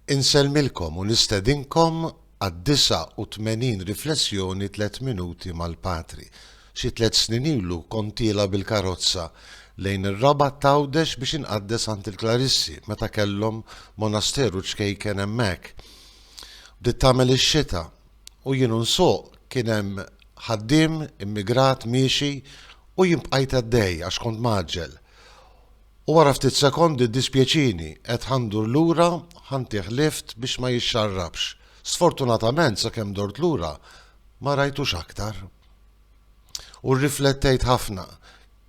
Insellmilkom u nistedinkom għad-89 Riflessjoni Tliet Minuti mal-Patri. Xi tliet snin ilu kont tiela' bil-karozza lejn ir-Rabat t'Għawdex biex inqaddes għand il-Klarissi meta kellhom monasteru ċkejken hemmhekk. Bdiet tagħmel ix-xita u jien u nsuq kien hemm ħaddiem immigrat miexi u jien bqajt għaddej għax kont mgħaġġel. U wara ftit sekondi ddispjaċini, qed ħa ndur lura, ħa ntih lift biex ma jixxarrabx. Sfortunatament sakemm dort lura ma rajtux aktar. U rriflettejt ħafna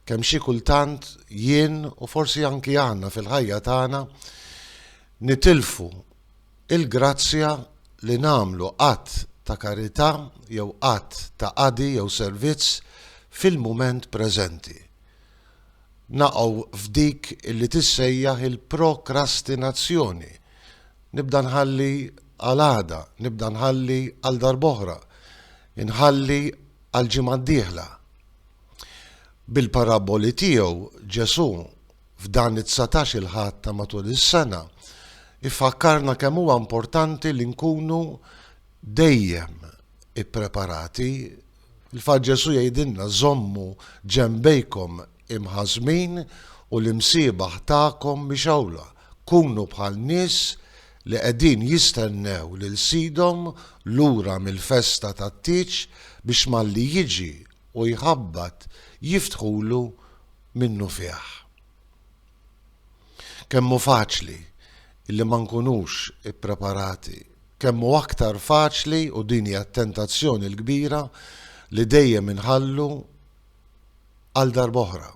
kemm xi kultant jien u forsi anki aħna fil-ħajja tagħna nitilfu il-grazzja li nagħmlu att ta' karità jew att ta' qadi jew servizz fil-mument preżenti. naqgħu f'dik li tissejjaħ il-prokrastinazzjoni. Nibda nħalli għal għada, nibda nħalli għal darb'oħra, inħalli għal ġimgħa d-dieħla. Bil-paraboli tiegħu Ġesù f'dan it-dsatax il-Ħadd ta' matul is-sena ifakkarna kemm huwa importanti li nkunu dejjem ippreparati Il-fatt Ġesù jgħidilna, Żommu ġenbejkom imħażmin u l-imsiebaħ tagħkom mixgħula. Kunu bħal nies li qegħdin jistennew lil sidhom lura mill-festa tat-tieġ biex malli jiġi u jħabbat jiftħulu minnufih. Kemm hu faċli illi ma nkunux ippreparati, kemm hu aktar faċli, u din hija t-tentazzjoni l-kbira, li dejjem inħallu għal darb'oħra.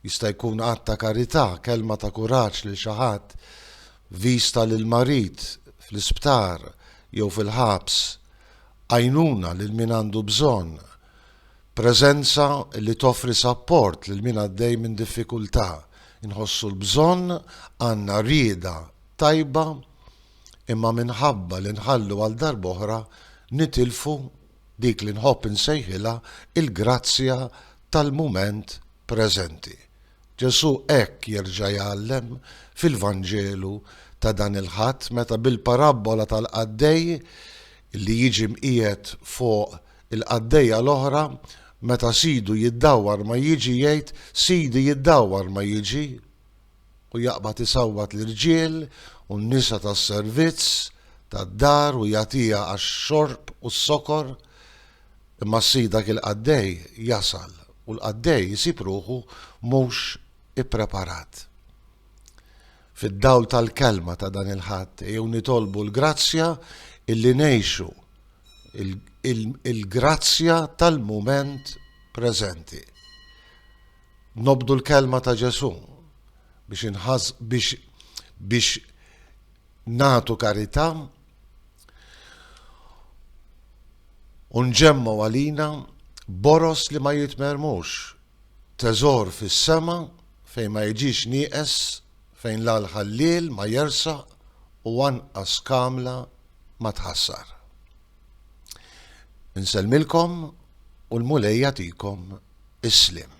Jista' jkun att ta' karità, kelma ta' kuraġġ lil xi ħadd, viżta lill-marid fl-isptar jew fil-ħabs, għajnuna lil min għandu bżonn, Preżenza li toffri sapport lil min għaddej minn diffikultà, inħossu l-bżonn, għandna rieda tajba imma minħabba li nħallu għal darb'oħra nitilfu dik li nħobb insejħilha l-grazzja tal-mument preżenti. Ġesù hekk jerġa' jgħallem fil-Vanġelu ta' dan il-Ħadd meta bil-parabbola tal-qaddej li jiġi mqiegħed fuq Il-qaddejja l-oħra, meta sidu jiddawwar ma jiġi jgħid, Sidi jiddawwar ma jiġi, u jaqbad isawwat l-irġiel u n-nisa tas-servizz tad-dar u jagħtiha għax-xorb u s-sokor. Imma s-sid dak il-qaddej jasal u l-qaddej isib ruħu mhux ippreparat. Fid-dawl tal-kelma ta' dan il-Ħadd, ejjew nitolbu l-grazzja illi ngħixu il-grazzja tal-mument preżenti. Nobdu l-kelma ta' Ġesu biex inħass biex biex natu karità u nġemmu għalina boros li ma jitmermux, teżor fis-sema fejn ma jiġix nieqes, fejn l-ħalliel ma jersa u anqas kamla ma tħassar. Insellmilkom u l-Mulej jagħtikom is-sliem.